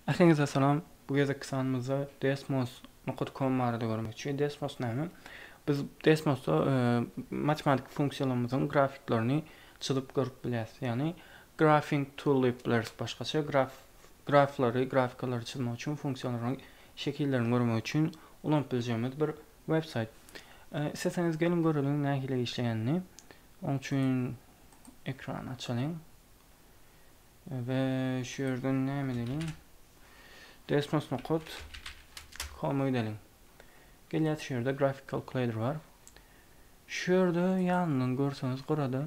Ähliňize salam! Bu gezekki sanymyzda Desmos nokta com barada görmekçi. Desmos näme? Biz Desmosda e, matematik funksiýalarymyzyň grafiklaryny çyzyp görüp bilýäs. Ýagny grafing tool diýip bileris başgaça. Graf graflary, grafikalary çyzmak üçin funksiýalaryň şekillerini görmek üçin ulanyp biljegimiz bir web saýt. E, isleseňiz geliň göreliň nähili işleýänini. Oň üçin ekran açalyň. We şu ýerden näme edeliň? Desktop nokot koma gidelim. Gelýär şu ýerde grafik kalkulator bar. Şu ýerde ýanyndan görseňiz gyrada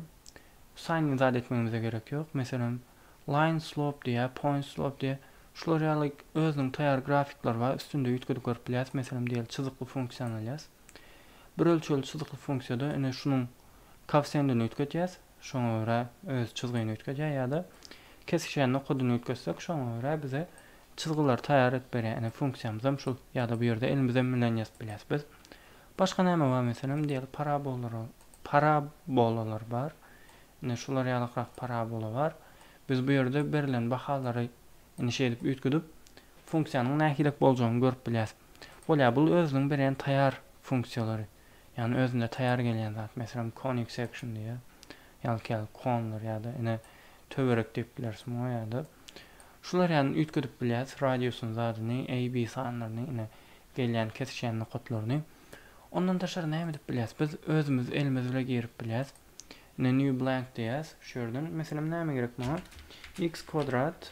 sign in zat etmegimize gerek ýok. Meselem, line slope diýýär, point slope diýýär. Şular ýaly özüniň taýýar grafikleri bar. Üstünde üýtgedip görüp bilýäris. Meselem, diýeli çyzykly funksiýany alýas. Bir ölçegli çyzykly funksiýada ine şunuň kowsendini üýtgedýäs. şoňa görä öz çyzgyny üýtgedýär ýa-da kesişýän nokadyny üýtgetsek şoňa görä bize çyzgylary taýýar edip berýär ine funksiýamyzam şu ýa-da bu ýerde elimizem bilen ýazyp bilýäs biz başga näme bar meselem diýeli parabolara parabolalar bar ine şular ýalykrak parabola bar biz bu ýerde berilen bahalary ine şeýdip üýtgedip funksiýanyň nähilek boljagyny görüp bilýäs bolýar bul özüniň berýän taýýar funksiýalary. Ýagny özünde taýýar gelýän zat. Meselem, konik section diýýär. Ýalka ýaly konlar ýa-da ine töwerek diýip bileris muňa ýa-da. Şular ýaly üýtgedip bilýäs radiusyny zadyny, A, B sanlaryny ine gelýän kesişýän nokatlaryny. Ondan daşary näme edip bilýäs? Biz özümiz elimiz bile girip bilýäs. Ine new blank diýýäs şu ýerden. Meselem näme gerek maňa? X kwadrat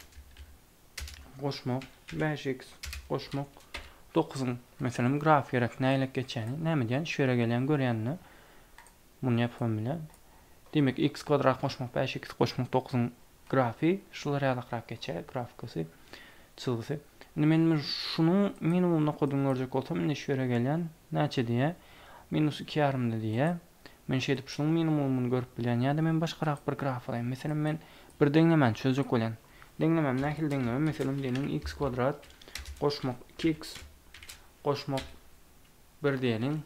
goşmak, bäş x goşmak, dokuzyň, meselem, graf gerek, nälelik geçýäni, näme diýýän, şu ýere gelýän, görýänini, muny ýapybam bilýän. Demek, x kwadrat goşmak, bäş x goşmak, dokuzyň grafy, şular ýalakrak geçýär, grafkasy, çyzgysy. Indi men şunuň minimum nokadyny görjek bolsam, indi şu ýere gelýän, näçe diýýär, minus iki ýarymda diýýär. Men şeýdip şunuň minimumyny görüp bilýän ýa-da men başgarak bir graf alaýyn. Meselem men bir deňlemäni çözjek bolýan. Deňlemem nähili deňleme? Meselem diýeliň x kwadrat goşmak iki x goşmak bir diýeliň.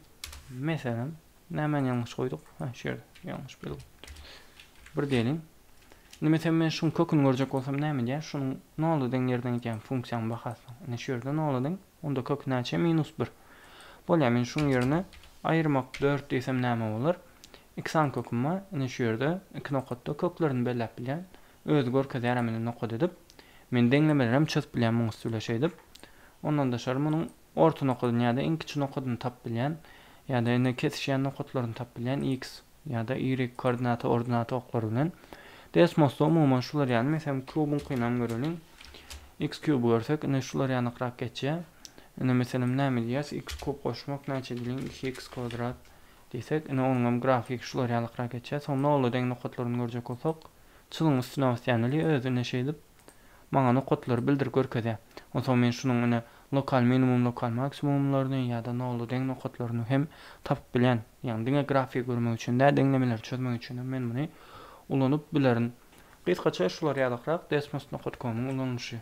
Meselem nämäni ýalňyş goýduk? Hä şu ýerde ýalňyş belgi goýupdyrys. Bir diýeliň. Indi meselem men şuň köküni görjek bolsam näme edýän? Şunuň nola deň ýerden gidýän funksiýaň bahasynyň. Ine şu ýerde nola deň. Onda kök näçe? Minus bir. Bolýar, men şuň ýerine aýyrmak dört diýsem näme bolar? Iki sany köküm bar. Ine şu ýerde, iki nokatda köklerini belläp bilýän. Özi görkezýär hem indi nokat edip. Men deňlemeleri hem çyzyp bilýän muň üsti bile şeýdip. Ondan daşary munuň orta nokadyny ýa-da iň kiçi nokadyny tapyp bilýän. Ýa-da indi kesişýän nokatlaryny tapyp bilýän. X. ýa-da Y koordinaty ordinaty oklary bilen. Desmosda umuman şular ýaly, meselem, kubuňkynam göreliň. X kuby görsek, ine şular ýanykrak geçýär. Ine, meselem, näme diýýäs? X kub goşmak näçe edeliň? Iki X kwadrat diýsek, ine onuňam grafiki şular ýalykrak geçýär. Soň nola deň nokatlaryny görjek bolsak, çyzygyň üstüne basýan, ili özi ine şeýdip, Maňa nokatlary bildirip görkezýär. Onsoň men şunuň ine lokal minimum lokal maksimumlaryny ýa-da nolla deň nokatlaryny hem tapyp bilýän. Ýagny diňe grafiki görmek üçin däl, deňlemeleri çözmek üçinem men muny ulanyp bilerin. Gysgaça şular ýalykrak desmos nokat komyň ulanylyşy.